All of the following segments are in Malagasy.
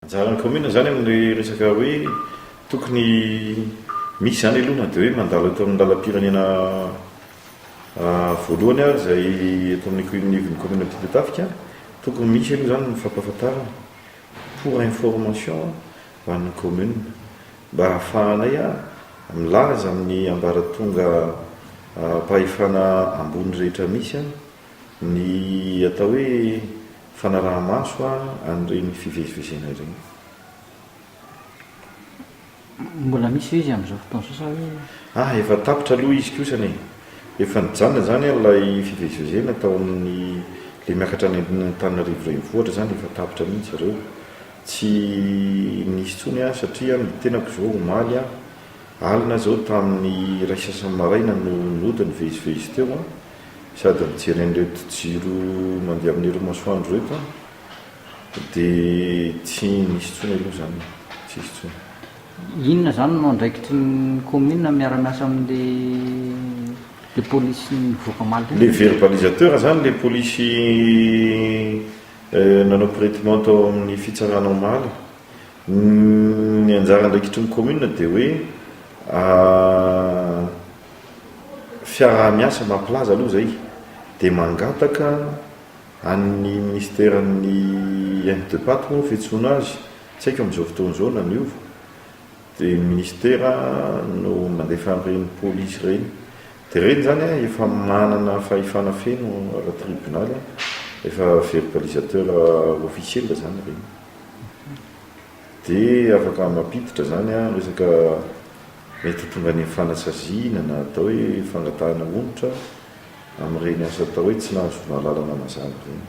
Anjaran'ny kaominina izany amin'ny resaka hoe tokony misy izany aloha na dia hoe mandalo eto amin'ny lalam-pirenena voalohany ary izay eto amin'ny koiminivon'ny kaominina Ampitatafika, tokony misy aloha izany ny fampahafantarana pour information ho an'ny kaominina mba hahafahanay milaza amin'ny ambaratonga mpahefana ambony rehetra misy. ny atao hoe fanaraha-maso an'ireny fivezivezena ireny. Mbola misy ve izy amin'izao fotoana izao sa hoe. Ah, efa tapitra aloha izy kosany e! Efa nijanona izany an ilay fivezivezena tao amin'ny, ilay miakatra any Antananarivo renivohitra izany efa tapitra mihitsy ireo. Tsy nisy intsony an, satria an ny tenako izao omaly an, alina izao tamin'ny iray sasany maraina no nody nivezivezy teo an. Sady mijery an'ireto jiro mandeha amin'ireo masoandro ireto aho dia tsy nisy intsony aloha izany e! Tsisy intsony. Inona izany no andraikitry ny commune miara-miasa amin'ilay polisy nivoaka omaly teo? Ilay verbalisateur izany ilay polisy nanao pretement tao amin'ny fitsarana omaly. Ny anjara andraikitry ny commune dia hoe fiaraha-miasa mampilaza aloha izay dia mangataka an'ny minisiteran'ny MDPAT moa ny fiantsoana azy, tsy haiko amin'izao fotoana izao na niova, dia ny minisitera no mandefa an'ireny polisy ireny. Dia ireny izany an, efa manana fahefana feno ara-tribonaly, efa verbalisateur officiel izany ireny. Dia afaka mampiditra izany ny resaka mety ho tonga any amin'ny fanasaziana na atao hoe fangatahana onitra amin'ireny asa atao hoe tsy nahazo fmahalalana mazava ireny.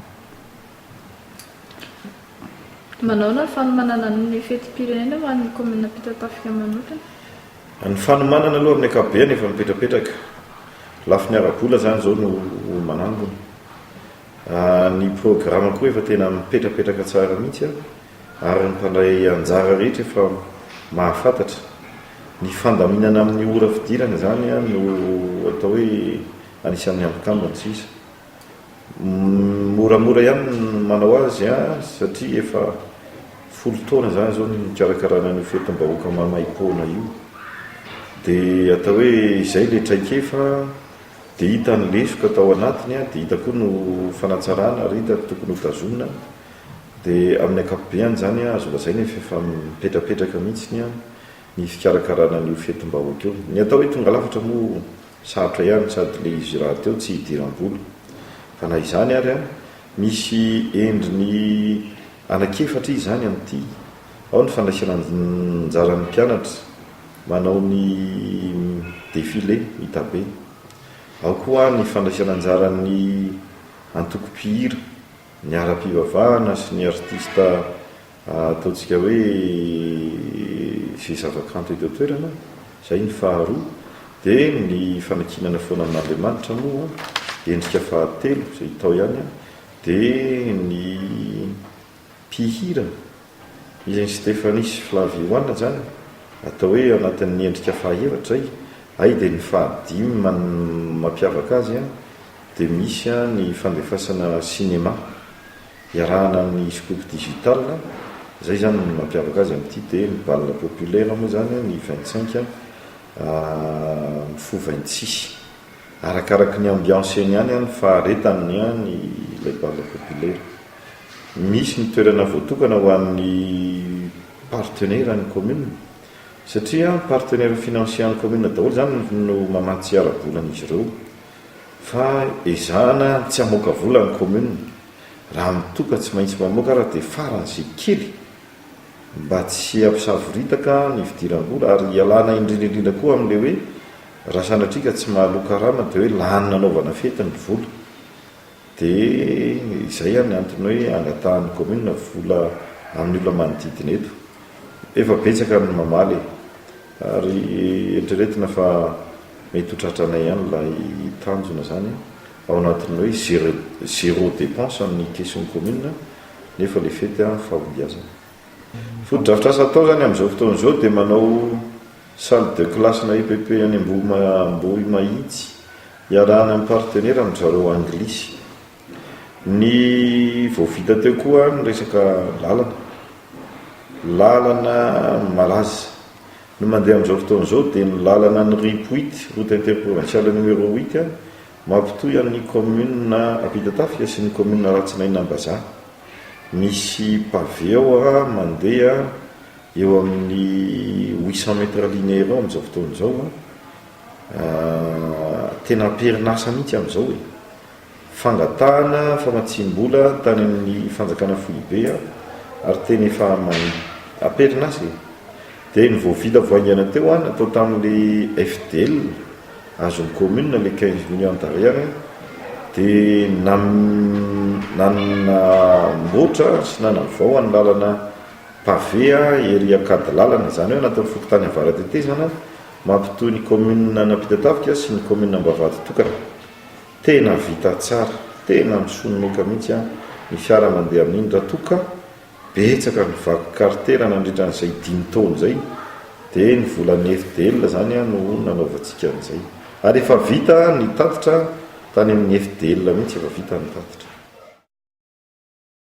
Manahoana ny fanomanana ny fetim-pirenena ho an'ny kaominina Ampitatafika manokana? Ny fanomanana aloha amin'ny ankapobeny efa mipetrapetraka. Lafiny ara-bola izany izao no manangona. Ny programa koa efa tena mipetrapetraka tsara mihitsy. ary ny mpandray anjara rehetra efa mahafantatra. Ny fandaminana amin'ny ora fidirana izany no atao hoe anisan'ny hampitambina tsy iza. Moramora ihany ny manao azy satria efa folo taona izany izao no nikarakarana an'io fetim-bahoaka maimaim-poana io. Dia atao hoe izay ilay traikefa dia hita ny lesoka tao anatiny dia hita koa no fanatsarana ary hita ny tokony hotazomina. Dia amin'ny ankapobeany izany azo lazaina fa efa mipetrapetraka mihitsy ny fikarakarana an'io fetim-bahoaka io. Ny atao hoe tonga lafatra moa sarotra ihany sady ilay izy rahateo tsy hidiram-bola. Fa na izany ary, misy endriny anankiefatra izy izany amin'ity, ao ny fandraisana anjaran'ny mpianatra manao ny défilé hita be, ao koa ny fandraisana anjaran'ny antoko mpihira Ny ara-pivavahana sy ny artista ataontsika hoe izay zavakanto eto an-toerana, izay ny faharoa. Dia ny fanankinana foana amin'Andriamanitra moa, endrika fahatelo izay hita ao ihany, dia ny mpihira. Izy Stéphanie sy Flavie Juana izany atao hoe eo anatin'ny endrika fahaefatra izay, hay dia ny fahadimy man mampiavaka azy dia misy ny fandefasana sinema iarahana amin'ny scoop digital, izay izany ny mampiavaka azy amin'ity dia ny bal populaire moa izany ny vingt cinq mifoha vingt six arakaraky ny ambiance eny ihany ny faharetany ny ilay bal populaire. misy ny toerana voatokana ho an'ny partenaire ny commune satria partenaire financier ny commune daholo izany no mamatsy ara-bola an'izy ireo fa ezahana tsy hamoaka vola ny commune raha mitoa ka tsy maintsy mamoaka ary dia farany izay kely mba tsy hampisavoritaka ny fidiram-bola ary hialana indrindra indrindra koa amin'ilay hoe raha sanatria ka tsy mahaloa karama dia hoe lany nanaovana fety ny vola Dia izay ary ny antony hoe angatahan'ny kaominina vola amin'ny olona manodidina eto. Efa betsaka ny mamaly e! Ary eritreretina fa mety ho tratranay ihany ilay tanjona izany ao anatin'ny hoe zero dépense amin'ny kesin'ny kaominina nefa ilay fety fahombiazana. Fotodrafitrasa atao izany amin'izao fotoana izao dia manao salle de classe-na EPP any Ambohimahitsy. Iarahana amin'ny partenera ry zareo anglisy. Ny vao vita teo koa ny resaka lalana. Lalana malaza. Ny mandeha amin'izao fotoana izao dia ny lalana an'ny rip huit, route interprovinciale numéro huit, mampitohy an'ny kaominina Ampitatafika sy ny kaominina Ratsinaina Ambazaha. Misy paveo mandeha eo amin'ny huit cent mètres linéaires eo amin'izao fotoana izao. Tena amperin'asa mihitsy amin'izao e! Fangatahana famatsiam-bola tany amin'ny fanjakana foibe aho ary tena efa manin. Amperin'asa e! Dia ny vao vita vao haingana teo an, natao tamin'ilay FDL azon'ny commune ilay quinze millions d'ariary dia nanamboatra sy nanavao ny lalana pavé ery Ankadilalana, izany hoe natao fokontany Avaratetezana, Mampitohy ny commune an'Ampitatafika sy ny commune Ambavahady tokana. Tena vita tsara, tena misononoka mihitsy an ny fiara mandeha amin'iny raha toa ka betsaka ny vaky kartera nandritra an'izay dimy taona izay dia ny volan'ny FDL izany an no nanaovantsika an'izay. Ary efa vita ny tatitra tany amin'ny FDL mihitsy efa vita ny tatitra.